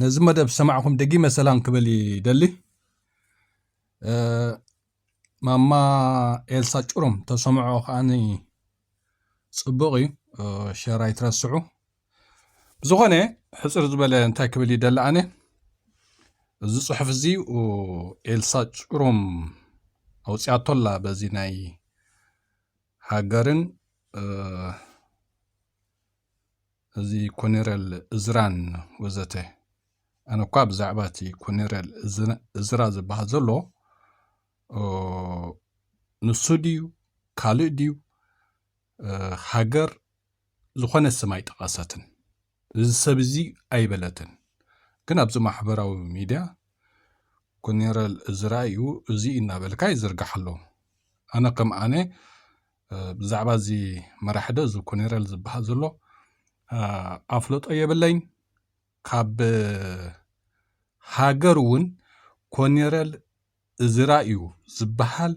ነዚ መደብ ዝሰማዕኩም ደጊመ ሰላም ክብል ይደሊ ማማ ኤልሳ ጭሩም ተሰምዖ ከዓኒ ፅቡቕ እዩ ሸራ ይትረስዑ ብዝኾነ ሕፅር ዝበለ እንታይ ክብል ይደሊ ኣነ እዚ ፅሑፍ እዚ ኤልሳ ጭሩም ኣውፅኣቶ ኣላ በዚ ናይ ሃገርን እዚ ኮኔረል እዝራን ወዘተ ኣነ እኳ ብዛዕባ እቲ ኮኔረል እዝራ ዝበሃል ዘሎ ንሱ ድዩ ካልእ ድዩ ሃገር ዝኾነ ስም ኣይጠቐሰትን እዚ ሰብ እዚ ኣይበለትን ግን ኣብዚ ማሕበራዊ ሚድያ ኮኔረል እዝራ እዩ እዚ እናበልካ ይዝርጋሕ ኣሎ ኣነ ከም ኣነ ብዛዕባ እዚ መራሕዶ እዚ ኮነረል ዝበሃል ዘሎ ኣፍለጦ የብለይን ካብ ሃገር እውን ኮነረል እዝራ እዩ ዝበሃል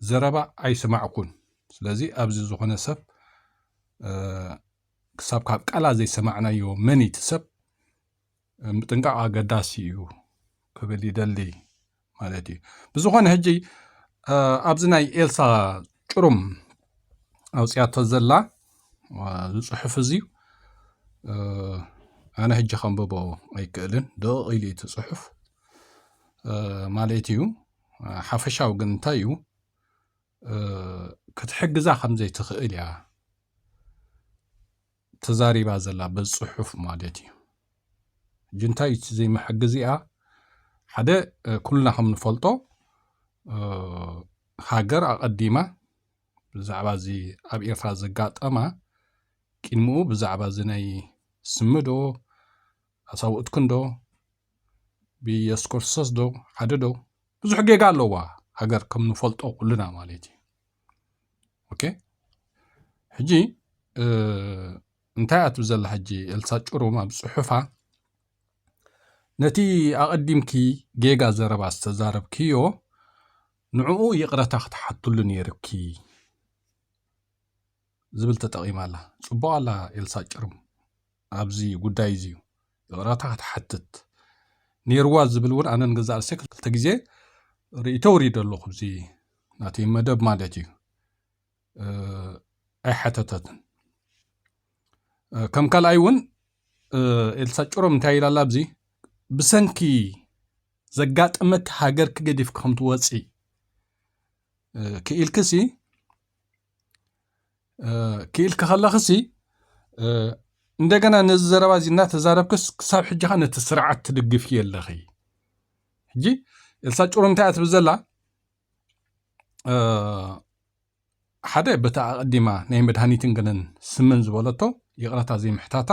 ዘረባ ኣይሰማዕኩን ስለዚ ኣብዚ ዝኾነ ሰብ ክሳብ ካብ ቃላ ዘይሰማዕናዮ መን እቲ ሰብ ምጥንቃቕ ኣገዳሲ እዩ ክብል ይደሊ ማለት እዩ ብዝኾነ ሕጂ ኣብዚ ናይ ኤልሳ ጭሩም ኣውፅያቶ ዘላ ዝፅሑፍ እዙዩ ኣነ ሕጂ ከንብቦ ኣይክእልን ደቕቕ ኢሉ እቲ ፅሑፍ ማለት እዩ ሓፈሻዊ ግን እንታይ እዩ ክትሕግዛ ከምዘይትኽእል እያ ተዛሪባ ዘላ ብጽሑፍ ማለት እዩ ሕጂ እንታይ እዩ እቲ ዘይመሐጊ እዚኣ ሓደ ኩልና ከም ንፈልጦ ሃገር ኣቐዲማ ብዛዕባ እዚ ኣብ ኤርትራ ዘጋጠማ ቅድሚኡ ብዛዕባ እዚ ናይ ስምዶ ኣሳውእት ክንዶ ብየሱስ ክርስቶስ ዶ ሓደ ዶ ብዙሕ ጌጋ ኣለዋ ሃገር ከም ንፈልጦ ኩልና ማለት እዩ ኦኬ ሕጂ እንታይ ኣት ዘላ ሕጂ ኤልሳ ጭሩም ኣብ ፅሑፋ ነቲ ኣቐዲምኪ ጌጋ ዘረባ ዝተዛረብክዮ ንዕኡ ይቕረታ ክትሓትሉ ነይርኪ ዝብል ተጠቒማ ኣላ ፅቡቕ ኣላ ኤልሳ ጭሩም ኣብዚ ጉዳይ እዚዩ ይቕረታ ክትሓትት ኔርዋ ዝብል እውን ኣነ ንገዛእ ርእሰይ ክልተ ግዜ ርእይቶ ውሪደ ኣለኹ እዚ ናተይ መደብ ማለት እዩ ኣይሓተተትን ከም ካልኣይ እውን ኤልሳ ጭሮም እንታይ ኢላላ ኣብዚ ብሰንኪ ዘጋጠመኪ ሃገርኪ ገዲፍኪ ከምትወፂ ክኢልክሲ ክኢልኪ ከለኽሲ እንደገና ነዚ ዘረባ እዚ እናተዛረብክስ ክሳብ ሕጂኻ ነቲ ስርዓት ትድግፊ ኣለኺ ሕጂ ኤልሳ ጭሩ እንታይ እያ ትብል ዘላ ሓደ በቲ ኣቐዲማ ናይ መድሃኒትን ገለን ስመን ዝበለቶ ይቕረታ ዘይምሕታታ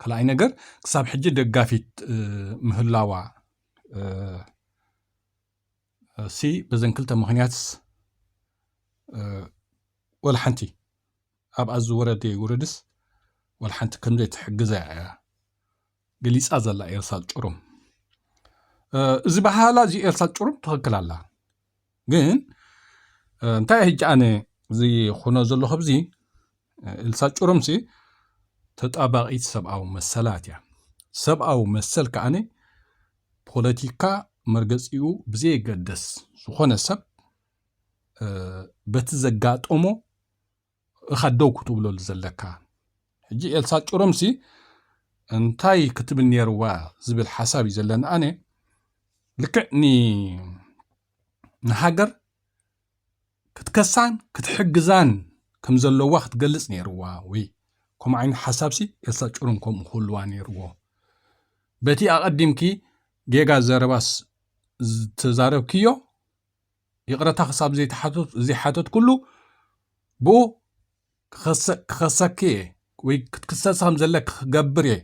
ካልኣይ ነገር ክሳብ ሕጂ ደጋፊት ምህላዋ ሲ በዘን ክልተ ምክንያትስ ወላ ሓንቲ ኣብኣ ዝወረደ ይውረድስ ወላ ሓንቲ ከምዘይ ትሕግዘ እያ ገሊፃ ዘላ ኤርሳል ጭሩም እዚ ባህላ እዚ ኤርሳል ጭሩም ትኽክል ኣላ ግን እንታይ ሕጂ ኣነ እዚ ኹኖ ዘለኹ ብዚ ኤልሳ ጩሩምሲ ተጣባቒት ሰብኣዊ መሰላት እያ። ሰብኣዊ መሰል ከኣ ፖለቲካ መርገጺኡ ብዘየገደስ ዝኾነ ሰብ በቲ ዘጋጠሞ እኻ ደው ክትብለሉ ዘለካ። ሕጂ ኤልሳ ጩሩምሲ እንታይ ክትብል ነይርዋ ዝብል ሓሳብ እዩ ዘለኒ ኣነ ልክዕ ንሃገር ክትከሳን ክትሕግዛን ከም ዘለዋ ክትገልጽ ነይርዋ ወይ ከምኡ ዓይነት ሓሳብሲ ኤልሳ ጭሩም ከምኡ ክህልዋ ነይርዎ በቲ ኣቐዲምኪ ጌጋ ዘረባስ ዝተዛረብክዮ ይቕረታ ክሳብ ዘይሓተትኩሉ ብኡ ክኸሰኪ እየ ወይ ክትክሰሲ ከም ዘለ ክገብር እየ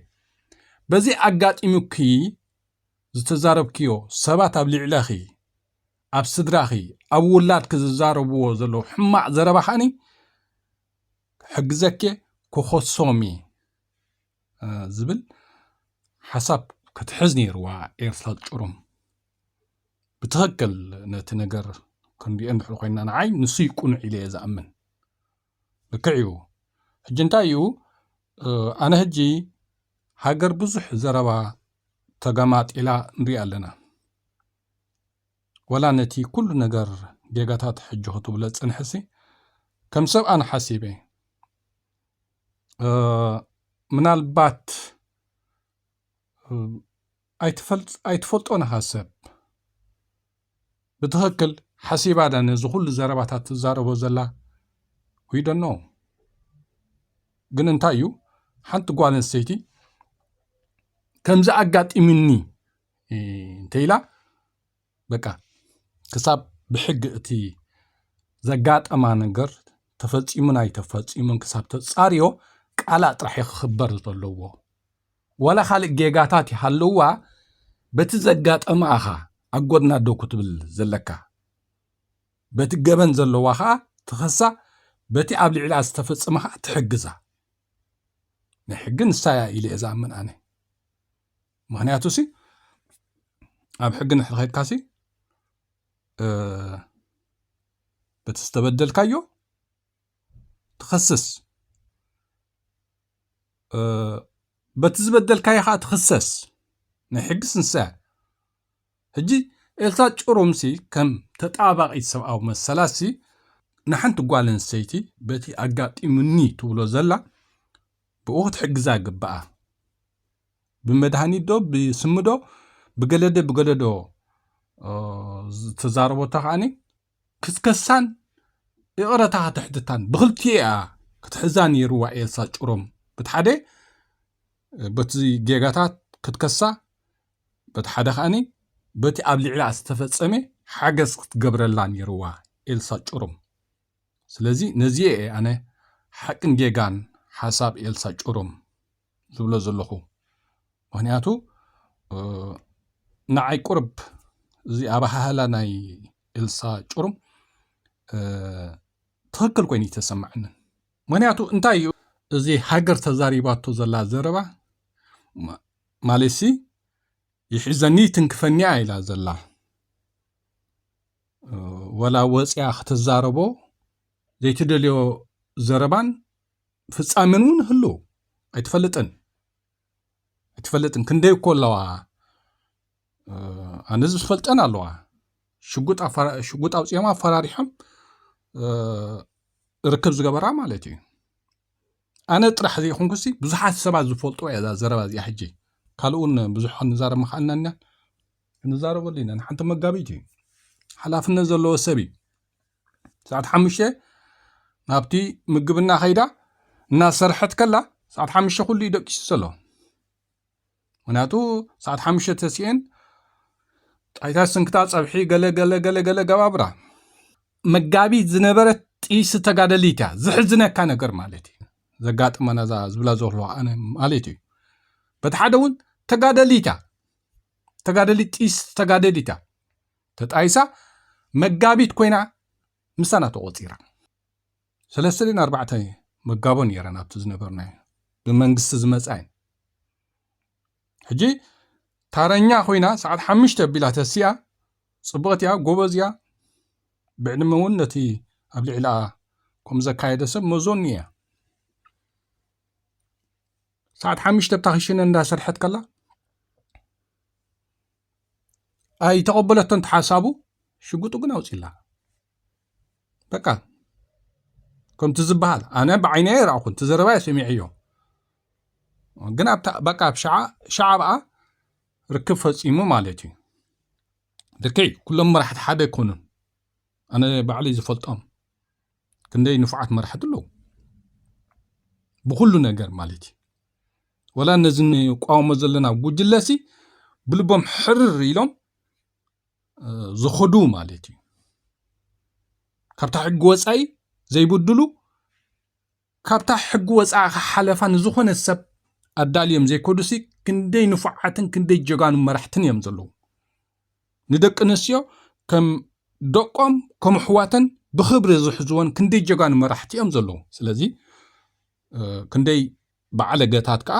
በዚ ኣጋጢሙኪ ዝተዛረብክዮ ሰባት ኣብ ልዕለኺ ኣብ ስድራኺ ኣብ ውላድኪ ዝዛረብዎ ዘለዉ ሕማቅ ዘረባ ከኣኒ ክሕግዘኪ ክኸሶም ዝብል ሓሳብ ክትሕዝ ነይርዋ ኤርትራ ጭሩም ብትኽክል ነቲ ነገር ክንሪኦ እንድሕር ኮይና ንዓይ ንሱ ይቁኑዕ ኢለ እየ ዝኣምን ልክዕ እዩ ሕጂ እንታይ እዩ ኣነ ሕጂ ሃገር ብዙሕ ዘረባ ተገማጢላ ንሪኣ ኣለና ወላ ነቲ ኩሉ ነገር ጌጋታት ሕጂ ክትብሎ ጽንሕሲ ከም ሰብ ኣነ ሓሲበ ምናልባት ኣይትፈልጦን ኢኻ ሰብ ብትኽክል ሓሲባ ዳ ነዚ ኩሉ ዘረባታት ትዛረቦ ዘላ ዊደኖ ግን እንታይ እዩ ሓንቲ ጓል ኣንስተይቲ ከምዚ ኣጋጢምኒ እንተኢላ በቃ ክሳብ ብሕጊ እቲ ዘጋጠማ ነገር ተፈፂሙን ኣይተፈፂሙን ክሳብ ተፃርዮ ቃላእ ጥራሕ እዩ ክኽበር ዘለዎ ዋላ ካልእ ጌጋታት ይሃለዋ በቲ ዘጋጠማ ኣኻ ኣብ ጎድና ዶ ክትብል ዘለካ በቲ ገበን ዘለዋ ከዓ ትኸሳ በቲ ኣብ ልዕሊኣ ዝተፈፀመ ከዓ ትሕግዛ ናይ ሕጊ ንሳያ ኢለ እየ ዝኣምን ኣነ ምክንያቱሲ ኣብ ሕጊ እንድሕር ከድካሲ በቲ ዝተበደልካዮ ትኸስስ በቲ ዝበደልካዮ ከዓ ትኽሰስ ናይ ሕጊ ስንሰያ ሕጂ ኤልሳ ጭሩምሲ ከም ተጣባቒት ሰብኣዊ መሰላትሲ ንሓንቲ ጓል ኣንስተይቲ በቲ ኣጋጢሙኒ ትብሎ ዘላ ብኡ ክትሕግዛ ይግብኣ። ብመድሃኒትዶ ብስምዶ ብገለደ ብገለዶ ዝተዛረበቶ ከኣ ክትከሳን ይቕረታ ከተሕትታን ብክልቲኣ ክትሕዛ ነይርዋ ኤልሳ ጭሩም በቲ ሓደ በቲ ጌጋታት ክትከሳ በቲ ሓደ ከኣኒ በቲ ኣብ ልዕሊኣ ዝተፈጸመ ሓገዝ ክትገብረላ ኔርዋ ኤልሳ ጩሩም ስለዚ ነዚየ እየ ኣነ ሓቅን ጌጋን ሓሳብ ኤልሳ ጩሩም ዝብሎ ዘለኹ ምክንያቱ ንዓይ ቁርብ እዚ ኣባሃህላ ናይ ኤልሳ ጩሩም ትክክል ኮይኑ ይተሰማዕንን ምክንያቱ እንታይ እዩ እዚ ሃገር ተዛሪባቶ ዘላ ዘረባ ማሌሲ ይሕዘኒ ይትንክፈኒ እያ ኢላ ዘላ ወላ ወፅያ ክትዛረቦ ዘይትደልዮ ዘረባን ፍፃሜን እውን ህሉ ኣይትፈልጥን ኣይትፈልጥን ክንደይ እኮ ኣለዋ ኣነ ዝፈልጠን ኣለዋ ሽጉጥ ኣውፅኦም ኣፈራሪሖም ርክብ ዝገበራ ማለት እዩ ኣነ ጥራሕ ዘይኮንኩሲ ብዙሓት ሰባት ዝፈልጥዋ እያ እዛ ዘረባ እዚኣ ሕጂ ካልእ እውን ብዙሕ ክንዛረብ ምኽኣልና ኢና ክንዛረበሉ ኢና ንሓንቲ መጋቢት እዩ ሓላፍነት ዘለዎ ሰብ እዩ ሰዓት ሓሙሽተ ናብቲ ምግብና ከይዳ እናሰርሐት ከላ ሰዓት ሓሙሽተ ኩሉ እዩ ደቂሱ ዘሎ ምክንያቱ ሰዓት ሓሙሽተ ተሲኤን ጣይታ ስንክታ ፀብሒ ገለገለገለገለ ገባብራ መጋቢት ዝነበረት ጥይሲ ተጋደሊት እያ ዝሕዝነካ ነገር ማለት እዩ ዘጋጥመና እዛ ዝብላ ዘሎ ኣነ ማለት እዩ በቲ ሓደ እውን ተጋደሊት እያ ተጋደሊት ጥይሲ ተጋደሊት እያ ተጣይሳ መጋቢት ኮይና ምሳና ተቆፂራ ሰለስተ ድየን ኣርባዕተ መጋቦ ነይረን ኣብቲ ዝነበርናዮ ብመንግስቲ ዝመጻ እየን ሕጂ ታረኛ ኮይና ሰዓት ሓሙሽተ ኣቢላ ተሲኣ ጽቡቕት እያ ጎበዝ እያ ብዕድመ እውን ነቲ ኣብ ልዕሊኣ ከም ዘካየደ ሰብ መዞኒ እያ ሰዓት ሓሙሽተ ብታ ክሽነ እንዳሰርሐት ከላ ኣይ ተቐበለቶ እንተ ሓሳቡ ሽጉጡ ግን ኣውፅላ በቃ ከምቲ ዝበሃል ኣነ ብዓይነ ይረኣኹ እቲ ዘረባ የሰሚዐዮ ግን በቃ ኣብ ሸዓብኣ ርክብ ፈፂሙ ማለት እዩ ልክዕ ኩሎም መራሕቲ ሓደ ኣይኮኑን ኣነ ባዕለይ ዝፈልጦም ክንደይ ንፉዓት መራሕቲ ኣለዉ ብኩሉ ነገር ማለት እዩ ወላ ነዚ ንቋወሞ ዘለና ጉጅለሲ ብልቦም ሕርር ኢሎም ዝኸዱ ማለት እዩ ካብታ ሕጊ ወፃኢ ዘይብድሉ ካብታ ሕጊ ወጻኢ ክሓለፋ ንዝኾነ ሰብ ኣዳልዮም ዘይከዱሲ ክንደይ ንፉዓትን ክንደይ ጀጋኑ መራሕትን እዮም ዘለዉ። ንደቂ ኣንስትዮ ከም ደቆም ከም ኣሕዋተን ብኽብሪ ዝሕዝወን ክንደይ ጀጋኑ መራሕቲ እዮም ዘለዉ። ስለዚ ክንደይ ባዕለገታት ከዓ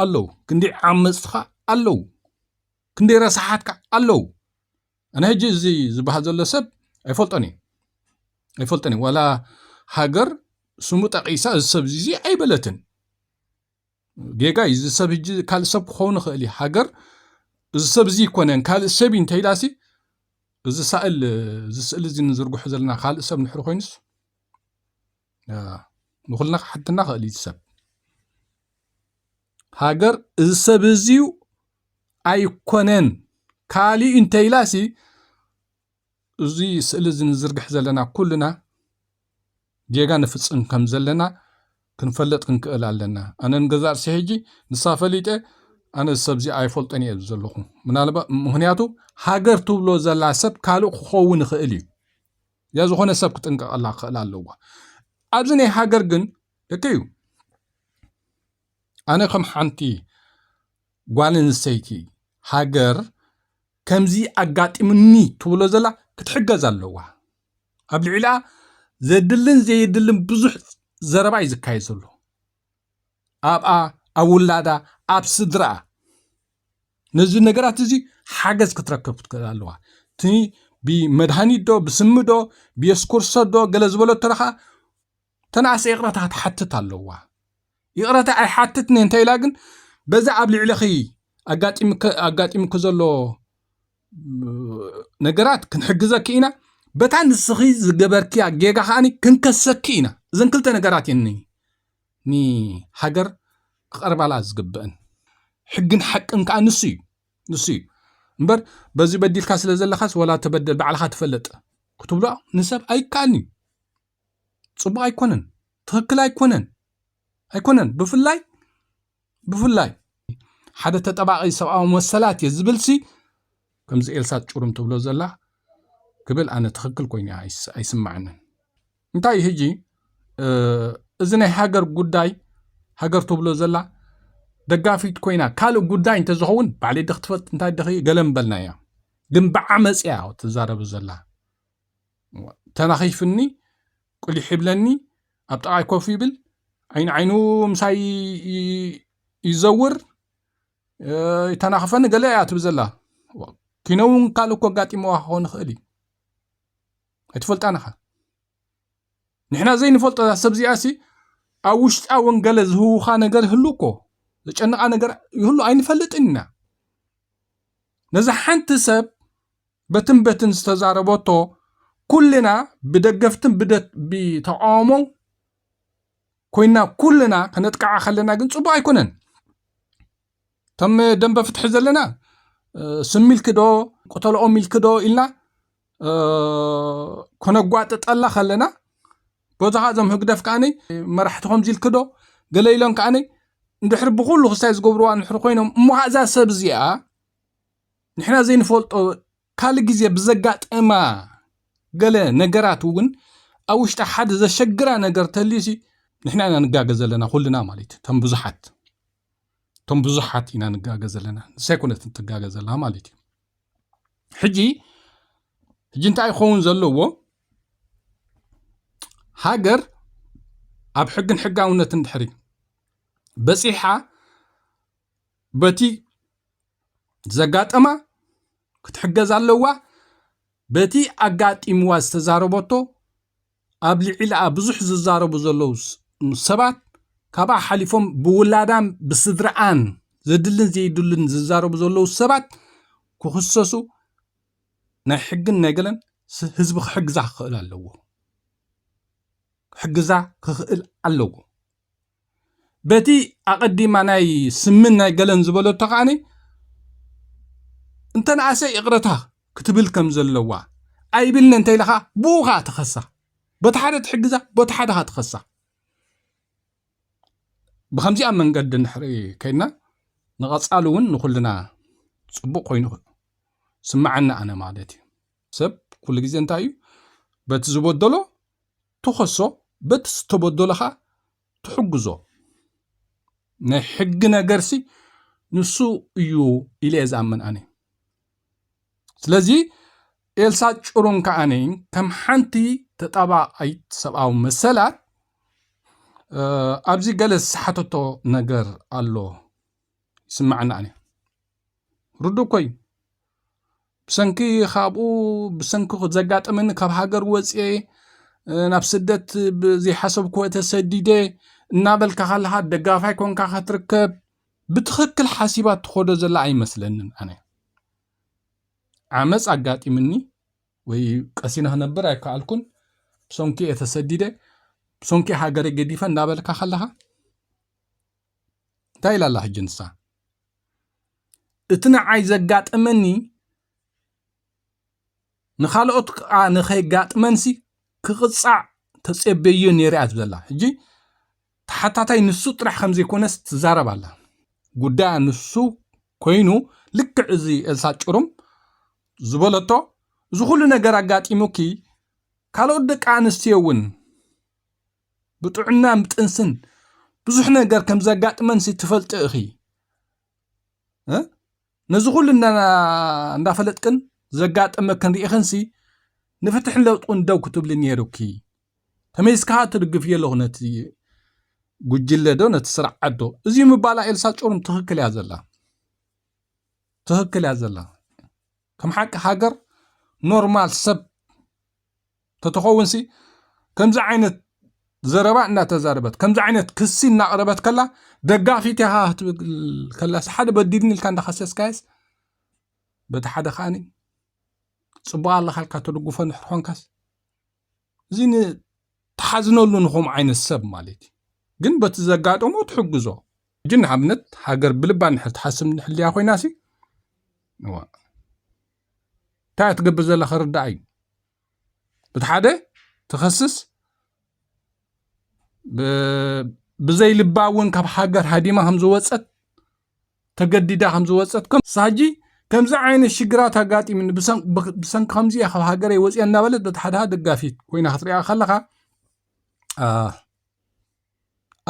ኣለዉ፣ ክንደይ ዓመፅቲ ከዓ ኣለዉ፣ ክንደይ ረሳሓት ከዓ ኣለዉ። ኣነ ሕጂ እዚ ዝበሃል ዘሎ ሰብ ኣይፈልጦን እየ ኣይፈልጦን እየ ዋላ ሃገር ስሙ ጠቒሳ እዚ ሰብ እዚ ኣይበለትን ጌጋ እዩ እዚ ሰብ ሕጂ ካልእ ሰብ ክኸውን ይኽእል እዩ ሃገር እዚ ሰብ እዚ ይኮነን ካልእ ሰብ እዩ እንተኢላ ሲ እዚ ሳእል እዚ ስእሊ እዚ ንዝርግሖ ዘለና ካልእ ሰብ ንሕሪ ኮይኑስ ንኩልና ክሓትና ክእል እዩ ሰብ ሃገር እዚ ሰብ እዚዩ ኣይኮነን ካልእ እዩ እንተኢላሲ እዚ ስእሊ እዚ ንዝርግሕ ዘለና ኩልና ጌጋ ንፍፅም ከም ዘለና ክንፈልጥ ክንክእል ኣለና። ኣነ ንገዛእ ርእሲ ሕጂ ንሳ ፈሊጠ ኣነ እዚ ሰብ እዚ ኣይፈልጦን እየ ዘለኹ ምናልባት ምክንያቱ ሃገር ትብሎ ዘላ ሰብ ካልእ ክኸውን ይኽእል እዩ እዚኣ ዝኾነ ሰብ ክጥንቀቐላ ክኽእል ኣለዋ ኣብዚ ናይ ሃገር ግን ደቀዩ ኣነ ከም ሓንቲ ጓል ኣንስተይቲ ሃገር ከምዚ ኣጋጢሙኒ ትብሎ ዘላ ክትሕገዝ ኣለዋ ኣብ ልዕሊኣ ዘድልን ዘየድልን ብዙሕ ዘረባ እዩ ዝካየድ ዘሎ ኣብኣ ኣብ ውላዳ ኣብ ስድራኣ ነዚ ነገራት እዚ ሓገዝ ክትረከብ ክትክእል ኣለዋ እቲ ብመድሃኒት ዶ ብስሚ ዶ ብየስኩርሰ ዶ ገለ ዝበለቶ ረኻ ተነኣሰ ይቕረታ ክትሓትት ኣለዋ ይቕረታ ኣይሓትትን እየ እንተኢላ ግን በዚ ኣብ ልዕልኺ ኣጋጢሙኪ ዘሎ ነገራት ክንሕግዘኪ ኢና በታ ንስኺ ዝገበርክያ ጌጋ ከዓኒ ክንከሰኪ ኢና እዘን ክልተ ነገራት እየን ንሃገር ክቐርባላ ዝግበአን ሕግን ሓቅን ከዓ ንሱ እዩ ንሱ እዩ እምበር በዚ በዲልካ ስለ ዘለካስ ወላ ተበደል ባዕልካ ትፈለጥ ክትብሎ ንሰብ ኣይከኣልን እዩ ፅቡቅ ኣይኮነን ትክክል ኣይኮነን ኣይኮነን ብፍላይ ብፍላይ ሓደ ተጠባቂ ሰብኣዊ መሰላት እየ ዝብል ሲ ከምዚ ኤልሳ ጭሩም ትብሎ ዘላ ክብል ኣነ ትክክል ኮይኑ ኣይስማዓንን እንታይ ህጂ እዚ ናይ ሃገር ጉዳይ ሃገር ትብሎ ዘላ ደጋፊት ኮይና ካልእ ጉዳይ እንተዝኸውን ባዕለይ ደ ክትፈልጥ እንታይ ደ ገለ ምበልና እያ ግን ብዓመፅ እያ ትዛረብ ዘላ ተናኺፍኒ ቁሊሕ ይብለኒ ኣብ ጥቓይ ኮፍ ይብል ዓይኒ ዓይኑ ምሳይ ይዘውር ይተናኽፈኒ ገለ እያ ትብል ዘላ ኪኖ እውን ካልእ እኮ ኣጋጢመዋ ክኸውን ይኽእል እዩ ኣይትፈልጣን ኢኻ ንሕና ዘይንፈልጦ እዛ ሰብ እዚኣ ሲ ኣብ ውሽጣ እውን ገለ ዝህውኻ ነገር ይህሉ እኮ ዘጨንቓ ነገር ይህሉ ኣይንፈልጥን ኢና ነዛ ሓንቲ ሰብ በትን በትን ዝተዛረበቶ ኩልና ብደገፍትን ብተቃውሞን ኮይና ኩልና ከነጥቅዓ ከለና ግን ፅቡቅ ኣይኮነን እቶም ደንበ ፍትሒ ዘለና ስም ኢልኪ ዶ ቁተልኦም ኢልኪ ዶ ኢልና ከነጓጥጠላ ከለና በዚ ከዓ እዞም ህግደፍ ከዓኒ መራሕቲ ከምዚ ኢልኪ ዶ ገለ ኢሎም ከዓኒ እንድሕሪ ብኩሉ ክስታይ ዝገብርዋ እንድሕሪ ኮይኖም እሞ ከዓ እዛ ሰብ እዚኣ ንሕና ዘይንፈልጦ ካልእ ግዜ ብዘጋጠማ ገለ ነገራት እውን ኣብ ውሽጢ ሓደ ዘሸግራ ነገር ተልዩ ሲ ንሕና ኢና ንጋገ ዘለና ኩልና ማለት እዩ እቶም ብዙሓት እቶም ብዙሓት ኢና ንጋገ ዘለና ንሳ ይኮነት ንትጋገ ዘላ ማለት እዩ ሕጂ ሕጂ እንታይ ይኸውን ዘለዎ ሃገር ኣብ ሕግን ሕጋውነትን ድሕሪ በፂሓ በቲ ዘጋጠማ ክትሕገዝ ኣለዋ በቲ ኣጋጢምዋ ዝተዛረበቶ ኣብ ልዕሊኣ ብዙሕ ዝዛረቡ ዘለዉ ሰባት ካብኣ ሓሊፎም ብውላዳን ብስድርኣን ዘድልን ዘይድልን ዝዛረቡ ዘለዉ ሰባት ክኽሰሱ ናይ ሕግን ናይ ገለን ህዝቢ ክሕግዛ ክኽእል ኣለዎ ክሕግዛ ክኽእል ኣለዎ በቲ ኣቐዲማ ናይ ስምን ናይ ገለን ዝበለቶ ከዓኒ እንተነኣሰ ይቕረታ ክትብል ከም ዘለዋ ኣይብልነ እንተ ኢለ ከዓ ብኡ ከዓ ትኸሳ በቲ ሓደ ትሕግዛ በቲ ሓደ ከዓ ትኸሳ ብከምዚኣ መንገዲ ንሕርኢ ከይድና ንቐፃሊ እውን ንኩልና ፅቡቅ ኮይኑ ስመዓኒ ኣነ ማለት እዩ ሰብ ኩሉ ግዜ እንታይ እዩ በቲ ዝበደሎ ትኸሶ በቲ ዝተበደሎ ኸዓ ትሕግዞ ናይ ሕጊ ነገርሲ ንሱ እዩ ኢለ እየ ዝኣምን ኣነ ስለዚ ኤልሳ ጭሩን ከዓነ ከም ሓንቲ ተጣባቃይት ሰብኣዊ መሰላት ኣብዚ ገለ ዝሰሓተቶ ነገር ኣሎ ይስመዓኒ ኣነ ርዱእ እኮ እዩ ብሰንኪ ካብኡ ብሰንኪ ዘጋጠመኒ ካብ ሃገር ወፅኤ ናብ ስደት ብዘይሓሰብክዎ ተሰዲደ እናበልካ ካለካ ደጋፋይ ኮንካ ከትርከብ ብትክክል ሓሲባ ትኸዶ ዘላ ኣይመስለንን ኣነ ዓመፅ ኣጋጢምኒ ወይ ቀሲነ ክነብር ኣይከኣልኩን ብሰንኪ እየ ተሰዲደ ብሰንኪ ሃገረ ገዲፈ እናበልካ ካለካ እንታይ ኢላ ኣላ ሕጂ ንሳ እቲ ንዓይ ዘጋጠመኒ ንካልኦት ከዓ ንከይጋጥመንሲ ክቕፃዕ ተፀበዮ ነይረ እያ ትብለላ ሕጂ ተሓታታይ ንሱ ጥራሕ ከም ዘይኮነስ ትዛረብ ኣላ ጉዳያ ንሱ ኮይኑ ልክዕ እዚ ኤልሳ ጭሩም ዝበለቶ እዚ ኩሉ ነገር ኣጋጢሙኪ ካልኦት ደቂ ኣንስትዮ እውን ብጥዑናን ብጥንስን ብዙሕ ነገር ከም ዘጋጥመንሲ ትፈልጢ እኺ እ ነዚ ኩሉ እንዳፈለጥክን ዘጋጠመክን ርኢኽንሲ ንፍትሕን ለውጥን ደው ክትብሊ ነይሩኪ ተመይስ ከዓ ትድግፍዮ ኣለኹ ነቲ ጉጅለ ዶ ነቲ ስርዓት ዶ እዚ ምባላ ኤልሳ ጭሩም ትኽክል እያ ዘላ ትኽክል እያ ዘላ ከም ሓቂ ሃገር ኖርማል ሰብ ተተኸውንሲ ከምዚ ዓይነት ዘረባ እናተዛረበት ከምዚ ዓይነት ክሲ እናቕረበት ከላ ደጋፊት ኢኻ ክትብል ከላስ ሓደ በዲልኒ ኢልካ እንዳኸሰስካየስ በቲ ሓደ ከዓኒ ፅቡቅ ኣለካ ኢልካ ተድግፎ እንድሕር ኮንካስ እዚ ንተሓዝነሉ ንኸምኡ ዓይነት ሰብ ማለት እዩ ግን በቲ ዘጋጠሞ ትሕግዞ እጂ ንኣብነት ሃገር ብልባ ንድሕር ትሓስብ ንሕልያ ኮይናሲ እንታይ ትገብር ዘላ ክርዳእ እዩ እቲ ሓደ ትኸስስ ብዘይ ልባ እውን ካብ ሃገር ሃዲማ ከም ዝወፀት ተገዲዳ ከም ዝወፀት ከም ሳጂ ከምዚ ዓይነት ሽግራት ኣጋጢሙኒ ብሰንኪ ከምዚ እየ ካብ ሃገረይ ወፅአ እናበለት በቲ ሓደ ደጋፊት ኮይና ክትሪኣ ከለካ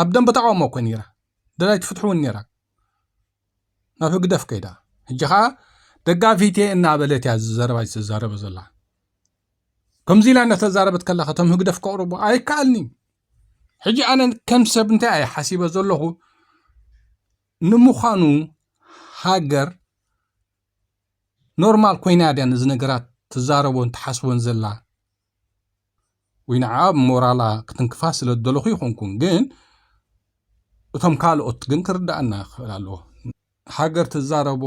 ኣብ ደንበ ተቓውሞ እኮ ነይራ ደላይት ፍትሒ እውን ነይራ ናብ ህግደፍ ከይዳ ሕጂ ከዓ ደጋፊቴ እናበለት እያ ዝዘረባ ዝተዛረበ ዘላ ከምዚ ኢላ እናተዛረበት ከላ ከቶም ህግደፍ ከቕርቡ ኣይከኣልን እዩ ሕጂ ኣነ ከም ሰብ እንታይ ኣየ ሓሲበ ዘለኹ ንምዃኑ ሃገር ኖርማል ኮይና ድያ ነዚ ነገራት ትዛረቦን ትሓስቦን ዘላ ወይ ንዓኣ ብሞራላ ክትንክፋ ስለ ዝደለኹ ይኹንኩን ግን እቶም ካልኦት ግን ክርዳእና ክኽእል ኣለዎ ሃገር ትዛረቦ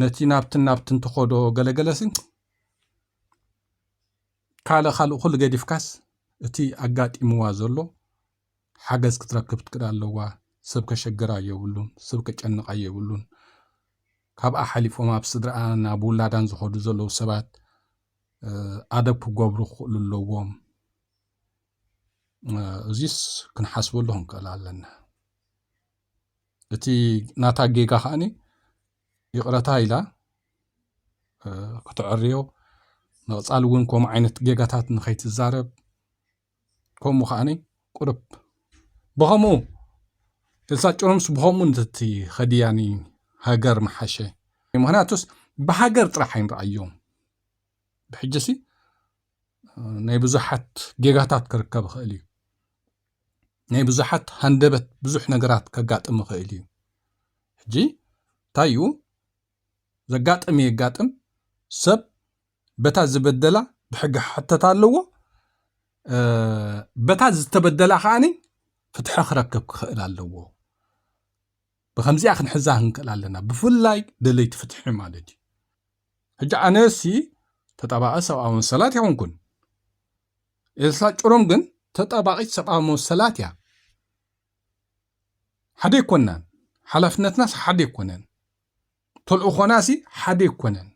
ነቲ ናብትን ናብትን ትኸዶ ገለገለሲ ካልእ ካልእ ኩሉ ገዲፍካስ እቲ ኣጋጢምዋ ዘሎ ሓገዝ ክትረክብ ትክእል ኣለዋ ሰብ ከሸግራ የብሉን ሰብ ከጨንቃ የብሉን ካብኣ ሓሊፎም ኣብ ስድራኣን ኣብ ውላዳን ዝኸዱ ዘለዉ ሰባት ኣደብ ክገብሩ ክኽእሉ ኣለዎም እዚስ ክንሓስበሉ ክንክእል ኣለና እቲ ናታ ጌጋ ከዓኒ ይቕረታ ኢላ ክትዕርዮ ንቕፃሊ እውን ከምኡ ዓይነት ጌጋታት ንኸይትዛረብ ከምኡ ከዓኒ ቁርብ ብኸምኡ እሳ ጭሮምስ ብኸምኡ እንትቲ ኸድያኒ ሃገር ምሓሸ ምክንያቱስ ብሃገር ጥራሕ ኣይንረኣዮም ብሕጂሲ ናይ ብዙሓት ጌጋታት ክርከብ ይኽእል እዩ ናይ ብዙሓት ሃንደበት ብዙሕ ነገራት ከጋጥም ይኽእል እዩ ሕጂ እንታይ እዩ ዘጋጥም የጋጥም ሰብ በታ ዝበደላ ብሕጊ ክሕተት ኣለዎ በታ ዝተበደላ ከዓኒ ፍትሒ ክረክብ ክኽእል ኣለዎ ብከምዚኣ ክንሕዛ ክንክእል ኣለና ብፍላይ ደለይቲ ፍትሒ ማለት እዩ ሕጂ ኣነሲ ተጠባቂ ሰብኣዊ መሰላት ይኹንኩን ኤልሳ ጭሮም ግን ተጠባቂት ሰብኣዊ መሰላት እያ ሓደ ይኮናን ሓላፍነትናስ ሓደ ይኮነን ተልእኾና ሲ ሓደ ኣይኮነን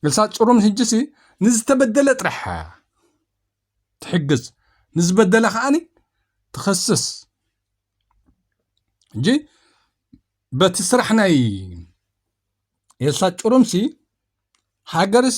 እልሳ ጭሩም ህጂ ሲ ንዝተበደለ ጥራሕ ትሕግዝ ንዝበደለ ከዓኒ ትኸስስ እጂ በቲ ስራሕ ናይ ኤልሳ ጭሩምሲ ሃገርስ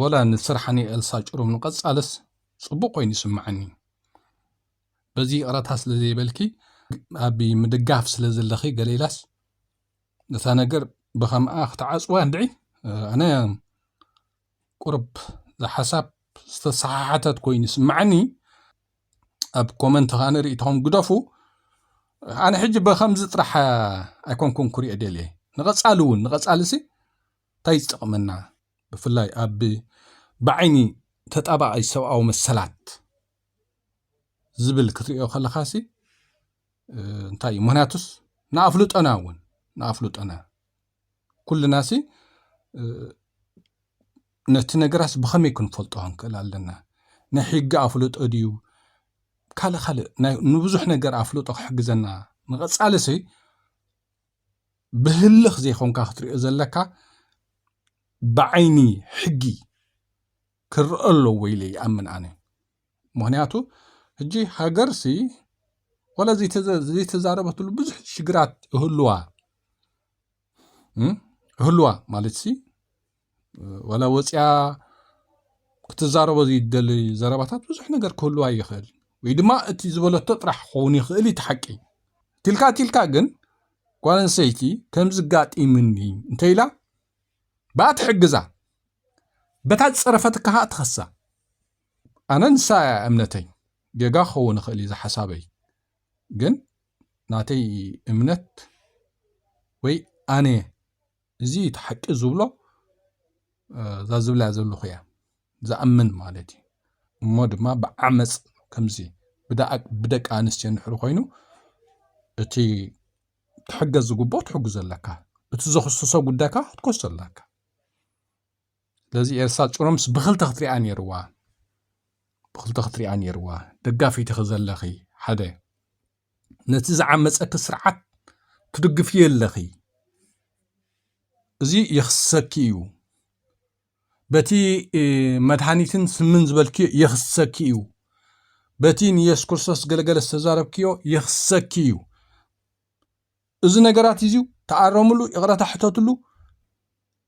ወላ ንስራሕ ን ኤልሳ ጭሩም ንቀጻልስ ጽቡቅ ኮይኑ ይስምዓኒ በዚ ይቅረታ ስለ ዘይበልኪ ኣብ ምድጋፍ ስለ ዘለኺ ገለ ኢላስ ነታ ነገር ብከምኣ ክትዓጽዋ እንድዒ ኣነ ቁሩብ ዝሓሳብ ዝተሰሓሓተት ኮይኑ ይስምዓኒ ኣብ ኮመንት ከኣ ርእይቶኹም ግደፉ ኣነ ሕጂ በከምዚ ጥራሕ ኣይኮንኩን ክሪኦ ደልየ ንቀጻሊ እውን ንቀጻሊሲ እንታይ ዝጠቕመና ብፍላይ ኣብ ብዓይኒ ተጣባቓይ ሰብኣዊ መሰላት ዝብል ክትሪኦ ከለኻሲ እንታይ እዩ ምክንያቱስ ንኣፍልጦና እውን ንኣፍልጦና ኩልናሲ ነቲ ነገራስ ብኸመይ ክንፈልጦ ክንክእል ኣለና ናይ ሕጊ ኣፍልጦ ድዩ ካልእ ካልእ ንብዙሕ ነገር ኣፍልጦ ክሕግዘና ንቐፃልሲ ብህልኽ ዘይኮንካ ክትሪኦ ዘለካ ብዓይኒ ሕጊ ክረአ ኣለዎ ኢለ ይኣምን ኣነ ምክንያቱ ሕጂ ሃገርሲ ዋላ ዘይተዛረበትሉ ብዙሕ ሽግራት ይህልዋ ይህልዋ ማለት ሲ ዋላ ወፅያ ክትዛረቦ ዘይደሊ ዘረባታት ብዙሕ ነገር ክህልዋ ይኽእል ወይ ድማ እቲ ዝበለቶ ጥራሕ ክኸውን ይኽእል እዩ ሓቂ ትልካ ትልካ ግን ጓል ኣንሰይቲ ከምዚ ጋጢምኒ እንተኢላ ብኣ ትሕግዛ በታ ዝፀረፈትካ ከዓ ትኸሳ ኣነ ንሳ እያ እምነተይ ጌጋ ክኸውን ይኽእል እዩ ዝሓሳበይ ግን ናተይ እምነት ወይ ኣነ እዚ እቲ ሓቂ ዝብሎ እዛ ዝብላ ዘለኹ እያ ዝኣምን ማለት እዩ እሞ ድማ ብዓመፅ ከምዚ ብደቂ ኣንስትዮ ንሕሪ ኮይኑ እቲ ትሕገዝ ዝግቦ ትሕግዞ ኣለካ እቲ ዘኽሰሶ ጉዳይካ ክትከሶ ኣለካ ስለዚ ኤርሳ ጭሮምስ ብክልተ ክትሪኣ ነይርዋ ብክልተ ክትሪኣ ነይርዋ ደጋፊትኺ ዘለኺ ሓደ ነቲ ዝዓመፀኪ ስርዓት ትድግፍዮ ኣለኺ እዚ የኽስሰኪ እዩ በቲ መድሃኒትን ስምን ዝበልክዮ የኽስሰኪ እዩ በቲ ንየሱስ ክርስቶስ ገለገለ ዝተዛረብክዮ የኽስሰኪ እዩ እዚ ነገራት እዚ ተኣረምሉ ይቕረታ ሕተትሉ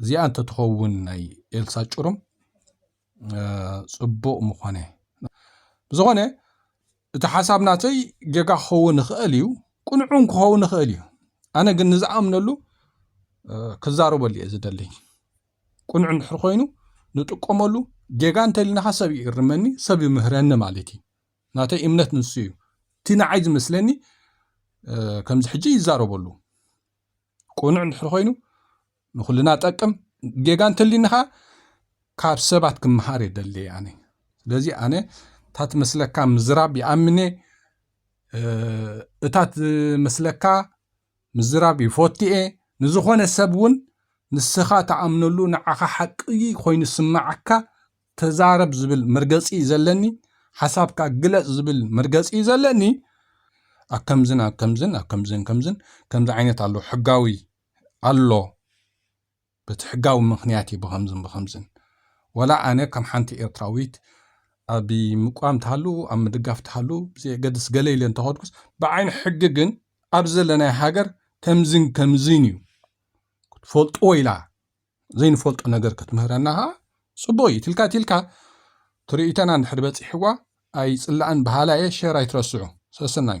እዚኣ እንተትኸውን ናይ ኤልሳ ጭሩም ፅቡቕ ምኾነ ብዝኾነ እቲ ሓሳብ ናተይ ጌጋ ክኸውን ይኽእል እዩ ቅንዑን ክኸውን ይኽእል እዩ ኣነ ግን ንዝኣምነሉ ክዛረበሉ እየ ዝደሊ ቅኑዕ እንድሕር ኮይኑ ንጥቀመሉ ጌጋ እንተልናኻ ሰብ ይእርመኒ ሰብ ይምህረኒ ማለት እዩ ናተይ እምነት ንሱ እዩ እቲ ንዓይ ዝመስለኒ ከምዚ ሕጂ ይዛረበሉ ቅኑዕ እንድሕር ኮይኑ ንኩልና ጠቅም ጌጋ እንተልዩኒ ከዓ ካብ ሰባት ክምሃር የደልየ ኣነ ስለዚ ኣነ እታ ትመስለካ ምዝራብ ይኣምነ እታ ትመስለካ ምዝራብ ይፎትየ ንዝኾነ ሰብ እውን ንስኻ ተኣምነሉ ንዓኻ ሓቂ ኮይኑ ስማዓካ ተዛረብ ዝብል መርገጺ እዩ ዘለኒ፣ ሓሳብካ ግለጽ ዝብል መርገጺ እዩ ዘለኒ፣ ኣብ ከምዝን ኣብ ከምዝን ኣብ ከምዝን ከምዝን ከምዚ ዓይነት ኣሎ ሕጋዊ ኣሎ በቲ ሕጋዊ ምክንያት እዩ ብከምዝን ብከምዝን ወላ ኣነ ከም ሓንቲ ኤርትራዊት ኣብ ምቋም ትሃሉ ኣብ ምድጋፍ ትሃሉ ብዘየገድስ ገለ ኢለ እንተኸድኩስ ብዓይኒ ሕጊ ግን ኣብ ዘለናይ ሃገር ከምዝን ከምዝን እዩ ክትፈልጥዎ ኢላ ዘይንፈልጦ ነገር ክትምህረና ከኣ ጽቡቅ እዩ ትልካ ትልካ ትርኢተና እንድሕር በጺሕዋ ኣይጽላእን በሃላይ እየ ሸር ኣይትረስዑ ሰስናዩ።